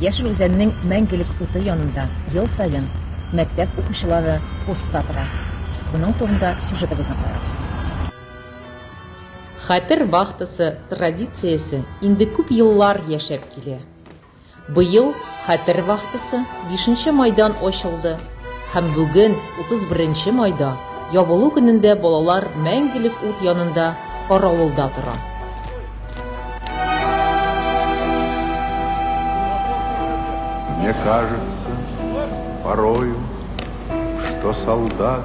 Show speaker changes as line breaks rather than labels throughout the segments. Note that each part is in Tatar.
Яшел Үзәннең мәңгелек уты янында ел саен мәктәп укучылары постта тора. Моның турында сюжетыбызны карагыз. Хәтер вахтасы традициясе инде күп еллар яшәп килә. Быел Хәтер вахтасы бишенче майдан ачылды. Һәм бүген, 31 нче майда, ябылу көнендә балалар мәңгелек ут янында каравылда тора.
Мне кажется порою, что солдат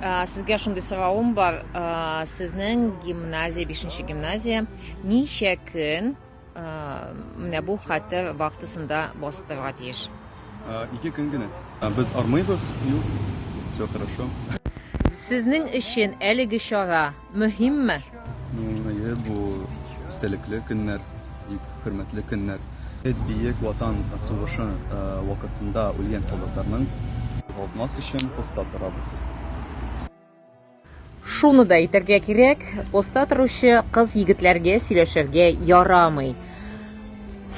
Ә, сезгә шундый соравым бар. Ә, сезнең гимназия, 5нче гимназия ничә көн ә, менә бу хәтер вахтасында басып торырга тиеш? Ә, ике көн
генә. Ә, без армыйбыз. Юк. Все хорошо. Сезнең
өчен әлеге чара Мөһимме? Әйе,
бу истәлекле көннәр, бик хөрмәтле көннәр. Без Бөек Ватан сугышы вакытында үлгән солдатларның югалтмас өчен поста торабыз.
Шуны да әйтергә кирәк, поста торучы кыз-егетләргә сөйләшергә ярамый.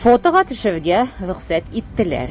Фотога төшергә рөхсәт иттеләр.